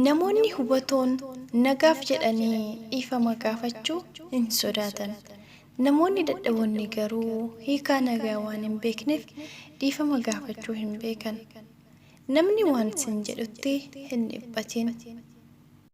Namoonni hubatoon nagaaf jedhanii dhiifama gaafachuu hin sodaatan. Namoonni dadhaboonni garuu hiikaa nagaa waan hin beekneef dhiifama gaafachuu hin beekan. Namni waan sin jedhutti hin dhiphatin.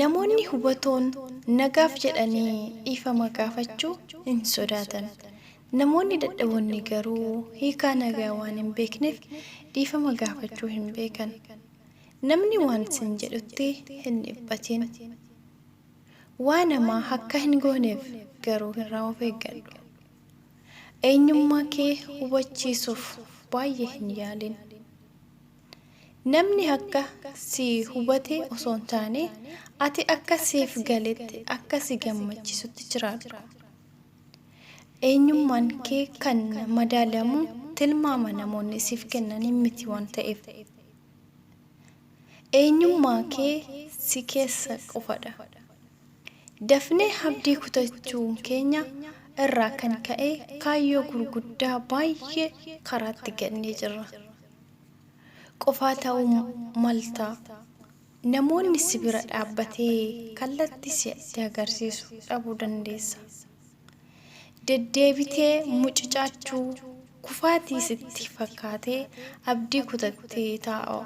Namoonni hubatoon nagaaf jedhanii dhiifama gaafachuu hin sodaatan. Namoonni dadhaboonni garuu hiikaa nagaa waan hin beekneef dhiifama gaafachuu hin beekan. Namni waan sin jedhutti hin dhiphatin. Waan hamaa akka hin gooneef garuu irraa of eeggadhu. Eenyummaa kee hubachiisuuf baay'ee hin yaalin. Namni akka si hubate osoo hin taane, ati akka siif galetti, akka si gammachisutti jiraadhu. Eenyummaan kee kan madaalamu tilmaama namoonni siif kennaniin miti waan ta'eef. Eenyummaa kee si keessa qofadha. Dafnee abdii kutachuu keenya irraa kan ka'e kaayyoo gurguddaa baay'ee karaatti gannee jirra. qofaa ta'uu malta. Namoonni si bira dhaabbatee kallatti si'atti agarsiisu dhabuu dandeessa. Deddeebitee mucucaachuu, kufaatii sitti fakkaatee abdii kutattee taa'u.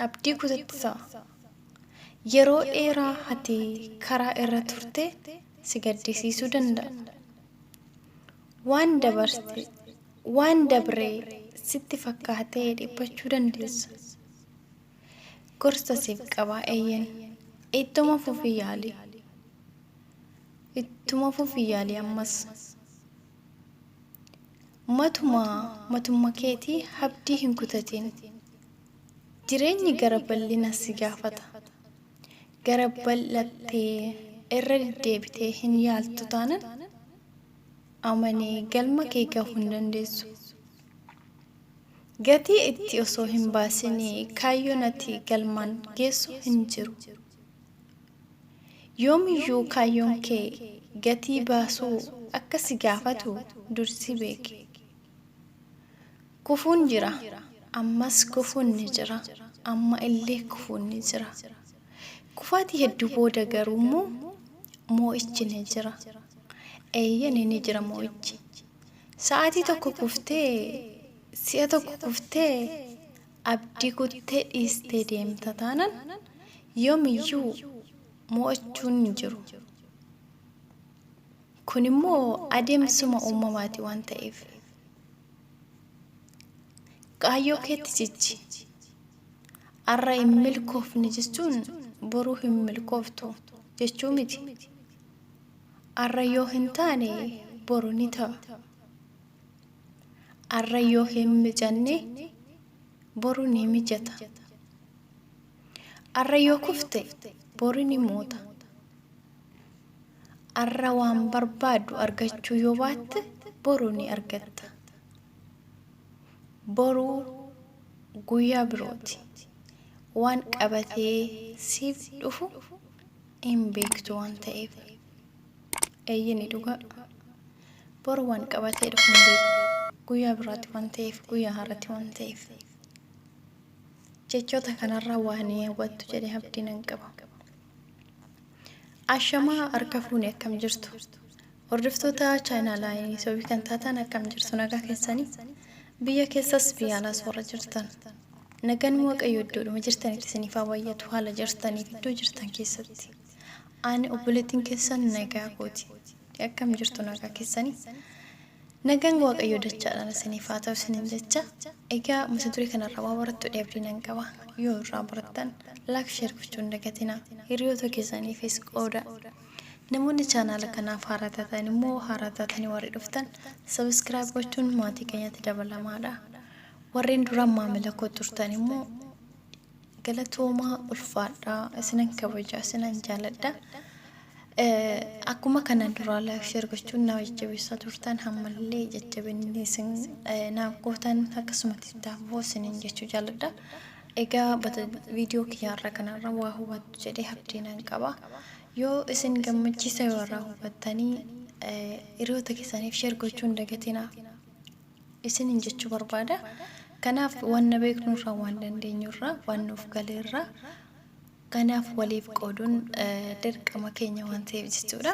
Abdii kutatte ta'a. Yeroo dheeraa ati karaa irra turte si gaddisiisuu danda'a. Waan dabarte Waan dabre sitti fakkaatee dhiphachuu dandeessa. Gorsa siif qaba, eeyyen. Ittuma fufii yaali. Ittuma fufii yaali ammas. Matuma matumma keetii habdii hin kutatin. Jireenyi gara bal'ina si gaafata. Gara bal'attee irra deddeebitee hin yaaltu taanan amanee galma kee gahu hin dandeessu. Gatii itti osoo hin baasin kaayyoon ati galmaan geessu hin jiru. Yoomiyyuu kaayyoon kee gatii baasuu akka si gaafatu dursii beeki. Kufuun jira, ammas kufuun ni jira, amma illee kufuun ni jira. Kufaatii hedduu booda garuu immoo moo'ichi ni jira. Eeyyeni ni jira moo'ichi. Sa'aatii tokko kuftee, si'a tokko kuftee abdii kuttee dhiistee deemta taanan yoomiyyuu moo'achuun hin jiru. Kun immoo adeemsuma uumamaati waan ta'eef. Kaayyoo keetti jijji. Arra hin milkoofne jechuun boru hin milkooftu jechuu miti. Arra yoo hin taane boru ni ta'a. Arra yoo hin mijanne boru ni mijata. Arra yoo kufte bori ni moota. Arra waan barbaaddu argachuu yoo baatte boru ni argatta. Boru guyyaa birooti. Waan qabatee siif dhufu hin beektu waan ta'eef. Eeyyeni dhugaa. Boru waan qabatee dhufu hin beeku. Guyyaa biraatti waan ta'eef, guyyaa har'atti waan ta'eef. Jechoota kanarraa waa ni hubattu jedhee abdii nan qaba. Ashamaa harka fuune akkam jirtu? Hordoftoota chaayinaalaa yuutuubii kan taataan akkam jirtu nagaa keessanii biyya keessas biyya alaas warra jirtan nagaan waaqayyo iddoodhuma jirtanitti isiniif haa baay'atu haala jirtaniif iddoo jirtan keessatti ani obboleettiin keessan nagaa kooti akkam jirtu nagaa keessanii nagaan waaqayyo dachaadhaan isiniif haa ta'u isinin jecha egaa mata duree kanarraa waa barattu dheebdii nan qaba yoo irraa barattan laak sheer gochuun dagatina hiriyoota keessaniifis qooda Namoonni channel kanaaf haaraa taatan immoo haaraa taatanii warri dhuftan subscribe gochuun maatii keenyatti dabalamaadha. Warreen duraan maamila koo turtan immoo galatoomaa ulfaadhaa isinan kabaja isinan jaaladha. Eh, Akkuma kanaan duraa like share gochuun na jajjabeessaa turtan hammallee jajjabinni isin eh, naaf gootan akkasumatti itti hafuuf isinin jechuu jaaladha. Egaa bata video kiyya har'a kanarra waa hubattu jedhee abdii nan qaba. Yoo isin gammachiisa yoo irraa hubattanii hiriyoota keessaniif share gochuu hin dagatinaa. Isinin jechuu barbaada. Kanaaf wanna beeknurraa waan dandeenyurraa waan nuuf galeerraa kanaaf waliif qooduun dirqama keenya waan ta'eef jechuudha.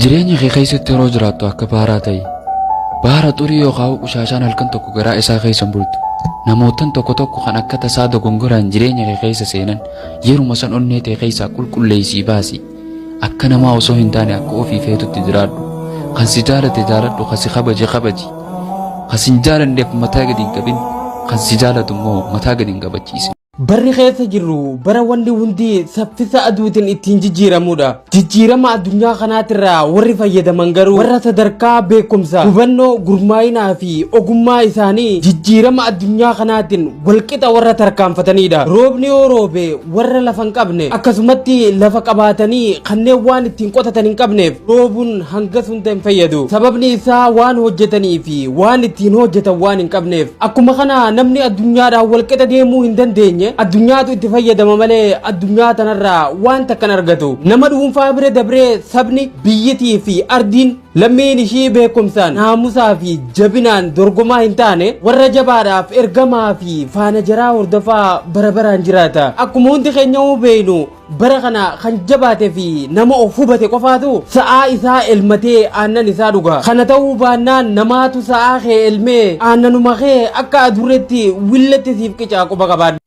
Jireenya kee keessatti yeroo jiraattu akka baaraa ta'i. Baara xurii yookaan qushaashaan halkan tokko garaa isaa keessa hin bultu. Namoottan tokko tokko kan akka tasaa dogongoraan jireenya kee keessa seenan yeruma san onnee tee keessaa qulqulleessii baasi. Akka namaa osoo hin taane akka ofii feetutti jiraadhu. Kan si jaalate jaaladhu, kan si kabaje kabaji. Kan si hin jaalanneef mataa gadi hin qabin, kan si jaalatu immoo mataa gadi hin qabachiisin. Barri keessa jirru bara wanni hundi saffisa aduutiin ittiin jijjiiramudha. Jijjiirama addunyaa kanaatirraa warri fayyadaman garuu warra sadarkaa beekumsa, hubannoo, gurmaa'inaa fi ogummaa isaanii jijjiirama addunyaa kanaatiin walqixa warra tarkaanfatanidha. Roobni yoo roobe warra lafa hin qabne akkasumatti lafa qabaatanii kanneen waan ittiin qotatan hin qabneef dhoobuun hangas hunda hin fayyadu sababni isaa waan hojjetanii fi waan ittiin hojjetan waan hin qabneef akkuma kana namni addunyaadhaan walqixa deemuu hin dandeenye addunyaatu itti fayyadama malee addunyaa tanarraa waan takka hin argatu nama dhuunfaa bira dabree sabni biyyitii fi ardiin lammiin ishii beekumsaan naamusaa fi jabinaan dorgomaa hin taane warra jabaadhaaf ergamaa fi faana jaraa hordofaa bara baraan jiraata akkuma hundi keenya beeknu Bara kana kan jabaate fi nama of hubate qofaatu sa'aa isaa elmatee aannan isaa dhuga. Kana ta'uu baannaan namaatu sa'aa kee elmee aannanuma kee akka adurreetti willetti siif qicaa quba qabaadhu.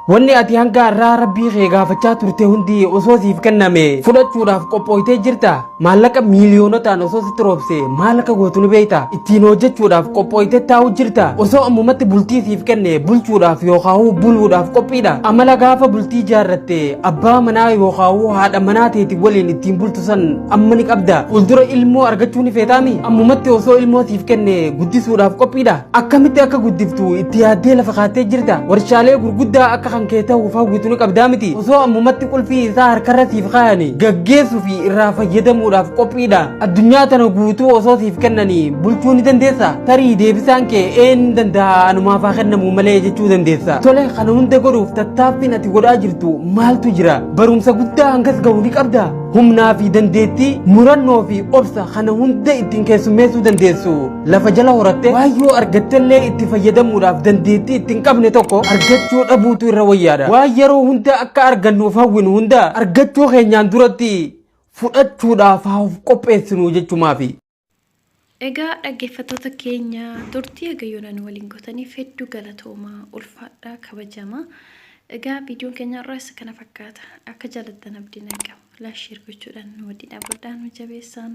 Wanni ati hanga har'aa rabbii kee gaafachaa turte hundi osoo siif kenname fudhachuudhaaf qophooytee jirta. Maallaqa miiliyoonotaan osoo sitti roobsee maal akka gootu ni beektaa? Ittiin hojjechuudhaaf qophooytee taa'u jirta? Osoo ammumatti bultii siif kenne bulchuudhaaf yookaahuu buluudhaaf qophiidha? Amala gaafa bultii ijaarratte abbaa manaa yookaahuu haadha manaa teeti waliin ittiin bultu san amma ni qabda? Fuuldura ilmoo argachuu ni feetaami? Ammumatti osoo ilmoo siif kenne guddisuudhaaf qophiidha? Akkamitti akka guddiftu itti yaaddee lafa kaattee jirta? Warshaalee gurguddaa akka kan kee ta'uuf hawwitu ni qabdaa miti? Osoo ammumatti qulfii isaa harkarra siif kaayani gaggeessuu fi irraa fayyadamuudhaaf qophiidha addunyaa tana guutuu osoo siif kennanii bulchuu ni dandeessa tarii deebisaan kee een danda'a anumaaf haa kennamu malee jechuu dandeessa tole kana hunda godhuuf tattaaffiin ati godhaa jirtu maaltu jira barumsa guddaa hangas ga'u ni qabda humnaa fi dandeettii murannoo fi obsa kana hunda ittiin keessummeessuu dandeessu lafa jala horattee waan yoo argattellee itti fayyadamuudhaaf dandeettii itti hin qabne tokko argachuu dhabuutu irra wayyaadha. Waan yeroo hundaa akka argannuuf hawwinu hundaa argachuu keenyaan duratti fudhachuudhaaf haa of qopheessinu jechumaafi. Egaa dhaggeeffattoota keenya turtii haga yoonaa nu waliin gootaniif hedduu galatoomaa ulfaadhaa kabajamaa. Egaa viidiyoon keenya irraa isa kana fakkaata. Akka jaalattan abdiin argama. Laasheer gochuudhaan nu waliin dhaabadhaa nu jabeessaan.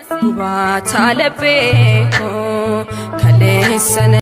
Gubaataa laphee koo kaleessa.